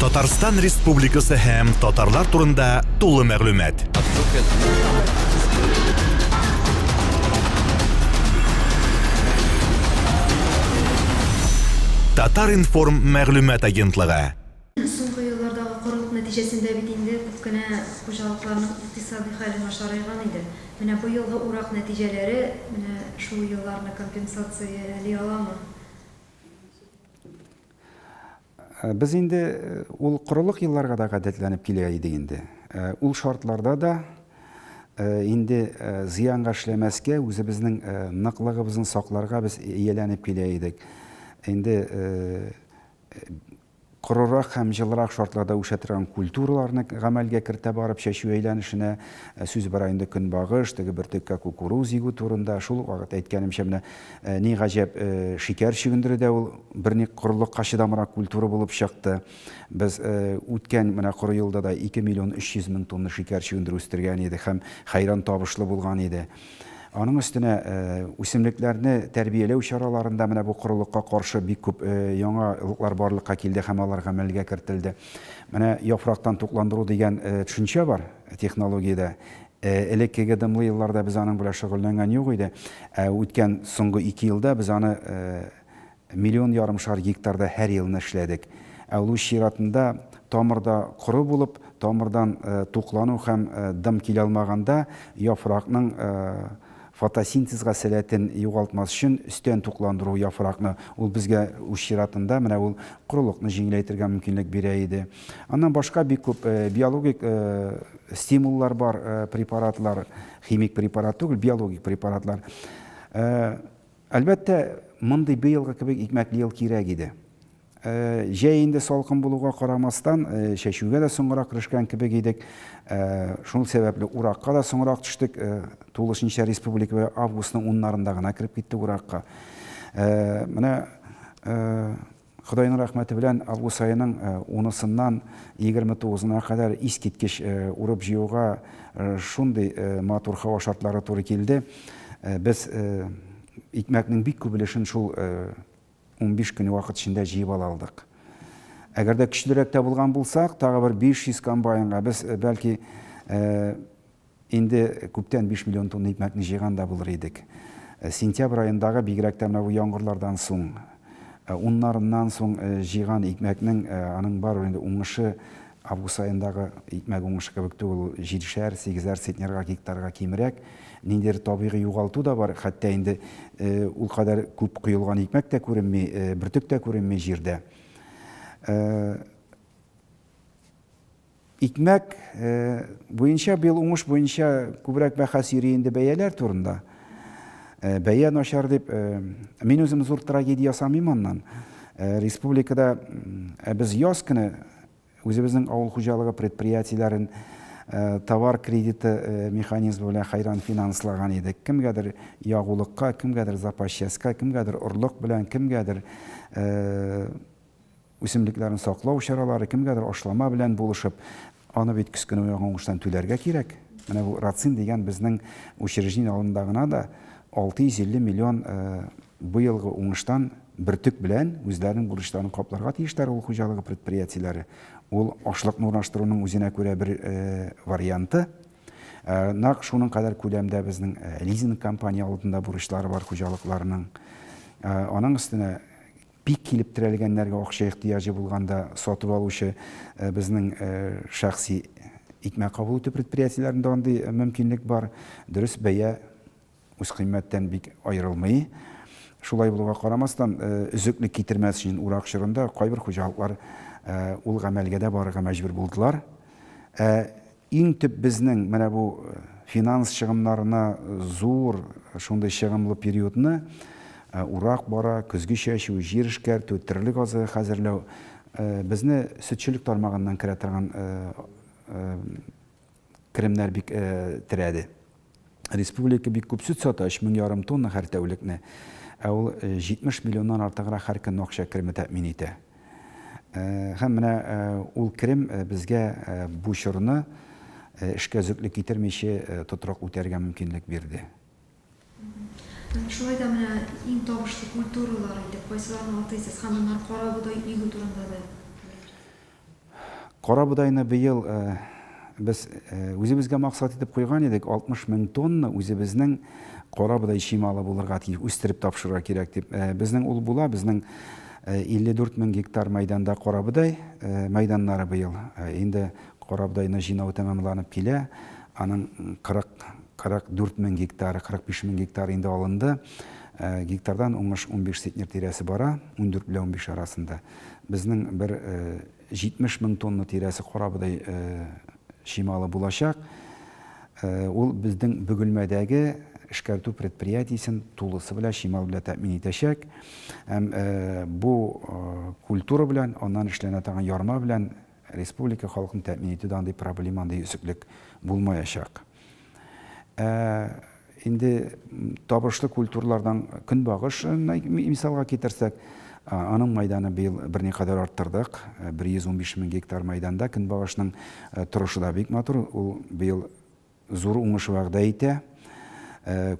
Татарстан Республикасы һәм татарлар турында тулы мәгълүмат. Татар-информ мәгълүмат агентлыгы. Соңгы еллардагы корылык нәтиҗәсендә бит инде күп кенә хуҗалыкларның икътисади хәле начарайган иде. Менә бу елгы урак нәтиҗәләре менә шул елларны компенсацияләли аламы? Э, без инде э, ул корылык елларга да гадәтләнеп килә идек инде. Э, ул шартларда да инде зыянга эшләмәскә, үзебезнең ныклыгыбызны сакларга без ияләнеп килә идек. Инде корырак һәм җылырак шартларда үсә торган культураларны гамәлгә кертә барып чәчү әйләнешенә сүз бара инде көнбагыш, теге бөртеккә кукуруз егү турында. Шул вакыт әйткәнемчә менә Ни гаҗәп, шикәр чөгендере дә ул берник корылыкка чыдамрак культура булып чыкты. Без үткән менә коры елда да 2 миллион 300 мең тонна шикәр чөгендере үстергән идек һәм хәйран табышлы булган иде. Аның өстенә үсемлекләрне тәрбияләү чараларында менә бу корылыкка каршы бик күп яңалыклар барлыкка килде һәм алар гамәлгә кертелде. Менә яфрактан тукландыру дигән төшенчә бар технологиядә. Элеккеге дымлы елларда без аның белән шөгыльләнгән юк иде, ә үткән соңгы ике елда без аны миллион ярымшар гектарда һәр елны эшләдек. Ә ул үз чиратында тамырда коры булып, тамырдан туклану һәм дым килә алмаганда, яфракның Фотосинтезга сәләтен югалтмас өчен өстән тукландыру яфракны, ул безгә үз чиратында менә ул корылыкны җиңеләйтергә мөмкинлек бирә иде. Аннан башка бик күп биологик стимуллар бар, препаратлар, химик препарат түгел, биологик препаратлар. Әлбәттә, мондый быелгы кебек икмәкле ел кирәк иде. Җәй инде салкын булуга карамастан, чәчүгә дә соңрак керешкән кебек идек. Шул сәбәпле уракка да соңрак төштек. Тулысынча республикага августның уннарында гына кереп киттек уракка. Менә Ходайның рәхмәте белән август аеның унысыннан егерме тугызына кадәр искиткеч урып-җыюга шундый матур һава шартлары туры килде. Без икмәкнең бик күп өлешен шул Унбиш көн вакыт эчендә җыеп ала алдык. Әгәр дә көчлерәк тә булган булсак, тагы бер 500 комбайнга без, бәлки, инде күптән биш миллион тонна икмәкне җыйган да булыр идек. Сентябрь аендагы, бигрәк тә менә бу яңгырлардан соң, уннарыннан соң җыйган икмәкнең, аның барыбер инде уңышы Август аендагы икмәк уңышы кебек түгел, ул җидешәр, сигезәр центнерга, гектарга кимрәк. Ниндидер табигый югалту да бар, хәтта инде ул кадәр күп коелган икмәк тә күренми, бөртек тә күренми җирдә. Икмәк буенча быел уңыш буенча күбрәк бәхәс йөри инде бәяләр турында. Бәя начар дип, мин үзем зур трагедия ясамыйм аннан. Республикада без яз көне Үзебезнең авыл хуҗалыгы предприятиеләрен товар кредиты механизмы белән хәйран финанслаган идек. Кемгәдер ягулыкка, кемгәдер запас частька, кемгәдер орлык белән, кемгәдер үсемлекләрне саклау чаралары, кемгәдер ашлама белән булышып, аны бит кечкенә ягын уңыштан түләргә кирәк. Менә бу Рацин дигән безнең учреждение алдында гына да 650 миллион быелгы уңыштан Бөртек белән үзләренең бурычларын капларга тиешләр авыл хуҗалыгы предприятиеләре. Ул ашлыкны урнаштыруның үзенә күрә бер варианты. Нәкъ шуның кадәр күләмдә безнең лизинг компания алдында бурычлары бар хуҗалыкларның. Аның өстенә бик килеп терәлгәннәргә акча ихтыяҗы булганда сатып алучы безнең шәхси икмәк кабул итү предприятиеләрендә андый мөмкинлек бар. Дөрес бәя. үзкыйммәттән бик аерылмый. Шулай булуга карамастан, өзеклек китермәс өчен урак чорында кайбер хуҗалыклар ул гамәлгә дә барырга мәҗбүр булдылар. Ә иң төп безнең менә бу финанс чыгымнарына зур шундый чыгымлы периодны урак бара, көзге чәчү, җир эшкәртү, терлек азыгы хәзерләү безне сөтчелек тармагыннан керә торган керемнәр бик терәде. Республика бик күп сөт сата, 3 мең ярым тонна һәр тәүлекне. Ә ул 70 миллионнан артыграк һәр көнне акча кереме тәэмин итә. Һәм менә ул керем безгә бу чорны эшкә өзеклек китермичә тотрык үтәргә мөмкинлек бирде. Шулай да менә иң табышлы культуралар итеп кайсыларны атыйсыз һәм аннары карабодай игү турында да әйтегез. Карабодайны быел без үзебезгә максат итеп куйган идек, 60 мең тонна үзебезнең карабодай чималы булырга тиеш, үстереп тапшырырга кирәк дип. Безнең ул була, безнең 54 мең гектар мәйданда карабодай мәйданнары быел инде Корабдайны җыйнау тәмамланып килә, аның 40, 44 мең гектары, 45 мең гектары инде алынды. Гектардан уңыш унбиш центнер тирәсе бара, ундүрт белән унбиш арасында. Безнең бер 70 мең тонна тирәсе корабыдай чималы булачак. Ул безнең Бөгелмәдәге эшкәртү предприятиесен тулысы белән чимал белән тәэмин итәчәк. Һәм бу культура белән, аннан эшләнә торган ярма белән Республика халкын тәэмин итүдә андый проблема, андый өзеклек булмаячак. Ә инде табышлы культуралардан көнбагыш мисалга китерсәк, аның майданы быел берникадәр арттырдык. 115 мең гектар майданда көнбагышның торышы да бик матур. Ул быел Зур уңыш вәгъдә итә.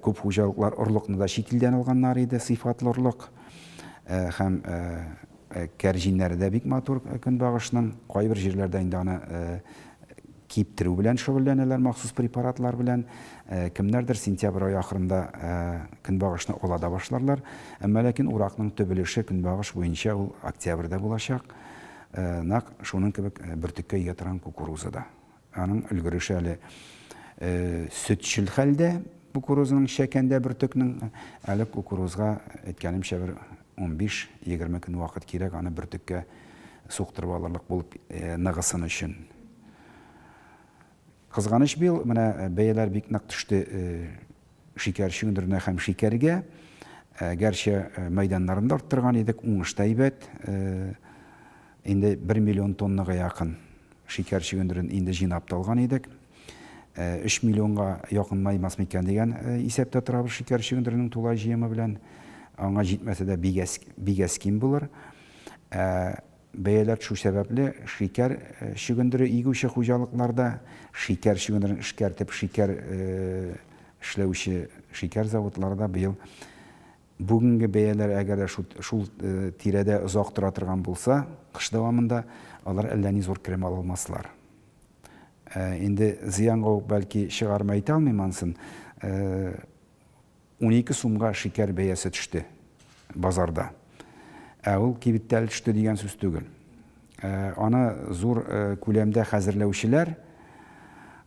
Күп хуҗалыклар орлыкны да чит илдән алганнар иде, сыйфатлы орлык. Һәм кәрҗиннәре дә бик матур көнбагышның. Кайбер җирләрдә инде аны киптерү белән шөгыльләнәләр, махсус препаратлар белән. Кемнәрдер сентябрь ае ахырында көнбагышны ала да башларлар. Әмма ләкин уракның төп өлеше көнбагыш буенча ул октябрьдә булачак. Нәкъ шуның кебек бөртеккә ия торган кукуруза да. Аның өлгереше әле сөтчел хәлдә, кукурузаның чәкәндә бөртекнең. Әле кукурузга, әйткәнемчә, бер унбиш-егерме көн вакыт кирәк аны бөртеккә суктырып алырлык булып ныгысын өчен. Кызганыч, быел менә бәяләр бик нык төште. Шикәр чөгендеренә һәм шикәргә, гәрчә мәйданнарын да арттырган идек, уңыш та әйбәт. Инде бер миллион тоннага якын шикәр чөгендерен инде җыйнап та алган идек. Өч миллионга якынмаймас микән дигән исәптә торабыз шикәр чөгендеренең тулай җыемы белән. Аңа җитмәсә дә, бик әз ким булыр. Бәяләр төшү сәбәпле, шикәр чөгендере игүче хуҗалыкларда, шикәр чөгендерен эшкәртеп шикәр эшләүче шикәр заводларда быел бүгенге бәяләр әгәр дә шул тирәдә озак тора торган булса, кыш дәвамында алар әллә ни зур керем ала алмаслар. Инде зыянга ук бәлки чыгармы әйтә алмыйм анысын. Унике сумга шикәр бәясе төште базарда. Ә ул кибеттә әле төште дигән сүз түгел. Аны зур күләмдә хәзерләүчеләр,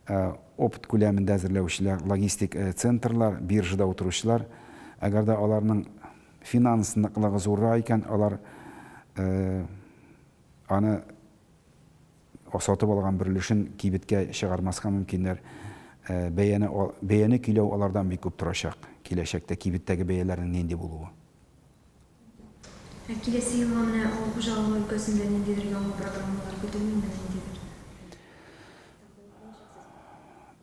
опт күләмендә әзерләүчеләр, логистик центрлар, биржада утыручылар, әгәр дә аларның финанс ныклыгы зуррак икән, алар аны Сатып алган бер өлешен кибеткә чыгармаска мөмкиннәр. Бәяне бәяне көйләү алардан бик күп торачак. Киләчәктә кибеттәге бәяләрнең нинди булуы. Ә киләсе елга менә авыл хуҗалыгы өлкәсендә ниндидер яңа программалар көтелмиме, ниндидер?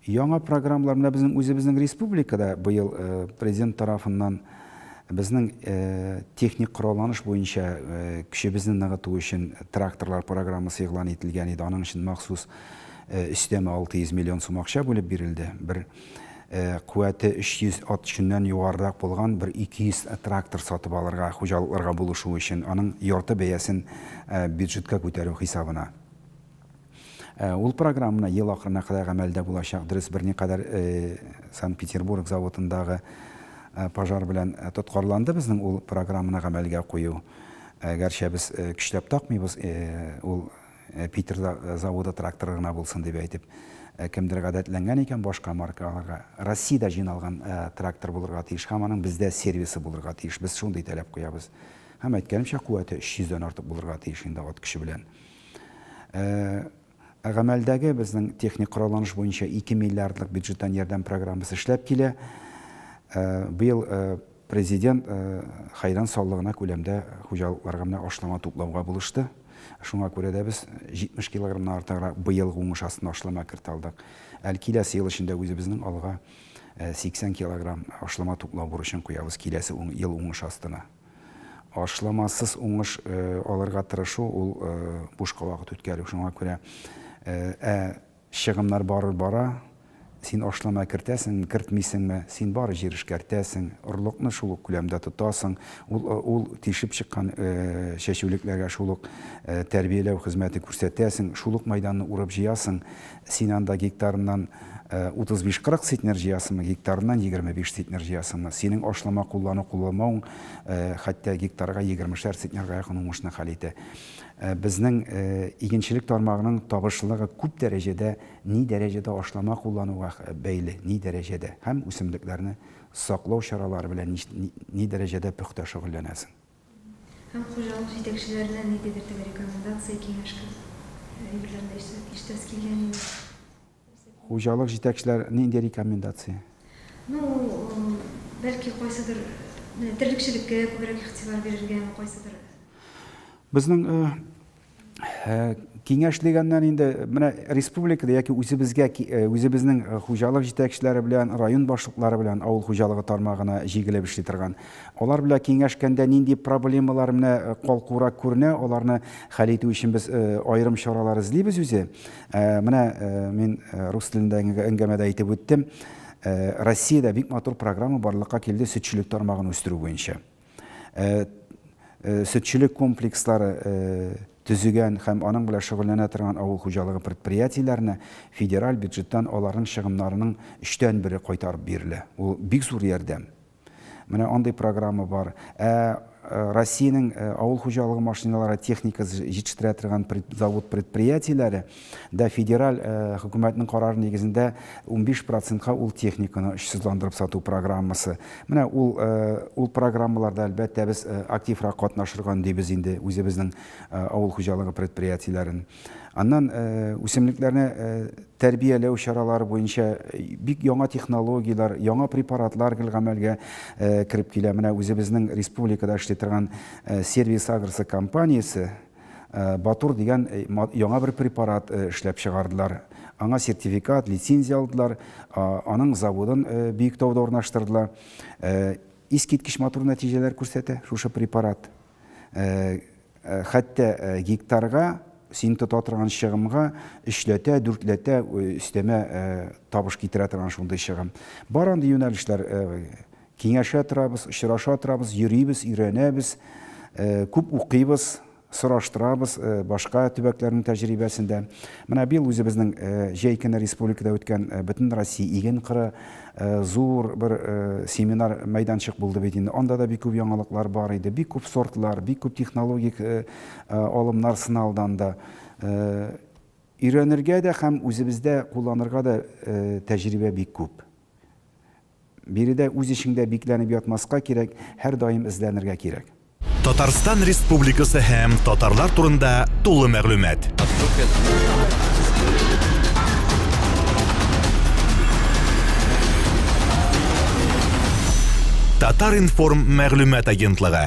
Яңа программалар менә безнең үзебезнең республикада быел президент тарафыннан безнең техник коралланыш буенча көчебезне ныгыту өчен тракторлар программасы игълан ителгән иде. Аның өчен махсус өстәмә 600 миллион сум акча бүлеп бирелде. Бер куәте 300 ат чөннән югарырак булган бер 200 трактор сатып алырга, хуҗалыкларга булышу өчен, аның ярты бәясен бюджетка күтәрү хисабына. Ул программны ел ахырына кадәр гамәлдә булачак. Дөрес, берникадәр Санкт-Петербург заводындагы пожар белән тоткарланды безнең ул программаны гамәлгә кую. Гәрчә без көчләп такмыйбыз, ул Питер заводы тракторы гына булсын дип әйтеп. Кемдер гадәтләнгән икән башка марка алырга. Россиядә җыйналган трактор булырга тиеш һәм аның бездә сервисы булырга тиеш. Без шундый таләп куябыз. Һәм әйткәнемчә, куәте 300 дән артык булырга тиеш инде ат көче белән. Ә гамәлдәге безнең техник коралланыш буенча 2 миллиардлык бюджеттан ярдәм программасы эшләп килә. Быел Президент хәйран саллы гына күләмдә хуҗалыкларга менә ашлама туплауга булышты. Шуңа күрә дә без 70 килограммнан артыграк быелгы уңыш астына ашлама кертә алдык. Әле киләсе ел эчендә үзебезнең алга 80 килограмм ашлама туплау бурычын куябыз киләсе ел уңыш астына. Ашламасыз уңыш алырга тырышу, ул бушка вакыт үткәрү. Шуңа күрә ә чыгымнар барыр бара, син ашлама кертәсеңме, кертмисеңме, син бары җир эшкәртәсең, орлыкны шул ук күләмдә тотасың, ул тишеп чыккан чәчүлекләргә шул ук тәрбияләү хезмәте күрсәтәсең, шул ук мәйданны урып-җыясың, Син анда гектарыннан 35-40 центнер җыясыңмы, гектарыннан 25 центнер җыясыңмы? Синең ашлама куллану-кулланмавың хәтта гектарга егермешәр центнерга якын уңышны хәл итә. Безнең игенчелек тармагының табышлылыгы күп дәрәҗәдә ни дәрәҗәдә ашлама куллануга бәйле, ни дәрәҗәдә һәм үсемлекләрне саклау чаралары белән ни дәрәҗәдә пөхтә шөгыльләнәсең. Һәм хуҗалык җитәкчеләренә ниндидер теге рекомендация, киңәш кебек әйберләрне ишетәсе килгән иде. Хуҗалык җитәкчеләр нинди рекомендация? Ну, бәлки кайсыдыр, менә терлекчелеккә күбрәк игътибар бирергәме, кайсыдыр. Безнең киңәш дигәннән инде менә республикада яки үзебезгә э, үзебезнең э, хуҗалык җитәкчеләре белән район башлыклары белән авыл хуҗалыгы тармагына җигелеп эшли торган алар белән киңәшкәндә нинди проблемалар менә э, калкурак күренә аларны хәл итү өчен без аерым чаралар эзлибез үзе менә мин рус телендәге әңгәмәдә әйтеп үттем россиядә бик матур программа барлыкка килде сөтчелек тармагын үстерү буенча Э, э, сөтчелек комплекслары э, төзегән һәм аның белән шөгыльләнә торган авыл хуҗалыгы предприятиеләренә федераль бюджеттан аларның чыгымнарының өчтән бере кайтарып бирелә. Ул бик зур ярдәм. Менә андый программа бар. Ә, ә Россиянең ә, авыл хуҗалыгы машиналары техникасы җитештерә торган пред, завод предприятиеләре да федераль хөкүмәтнең карары нигезендә унбиш процентка ул техниканы очсызландырып сату программасы. Менә ул ул программаларда, әлбәттә, без активрак катнашырга өндибез инде үзебезнең авыл хуҗалыгы предприятиеләрен. Аннан үсемлекләрне тәрбияләү чаралары буенча бик яңа технологияләр, яңа препаратлар гел гамәлгә кереп килә. Менә үзебезнең республикада эшли торган Сервис Агросы компаниясе, Батур дигән яңа бер препарат эшләп чыгардылар. Аңа сертификат, лицензия алдылар. Аның заводын Биектауда урнаштырдылар. Искиткеч матур нәтиҗәләр күрсәтә шушы препарат. Хәтта гектарга син тота торган чыгымга өчләтә, дүртләтә өстәмә табыш китерә торган шундый чыгым. Бар андый юнәлешләр Киңәшә торабыз, очраша торабыз, йөрибез, өйрәнәбез, күп укыйбыз, сораштырабыз башка төбәкләрнең тәҗрибәсен дә. Менә быел үзебезнең җәй көне республикада үткән Бөтенроссия иген кыры зур бер семинар мәйданчык булды бит инде. Анда да бик күп яңалыклар бар иде. Бик күп сортлар, бик күп технологик алымнар сыналды анда. Өйрәнергә дә һәм үзебездә кулланырга да тәҗрибә бик күп. Биредә үз эшеңдә бикләнеп ятмаска кирәк, һәрдаим эзләнергә кирәк. Татарстан Республикасы һәм татарлар турында тулы мәгълүмат. Татар-информ мәгълүмат агентлыгы.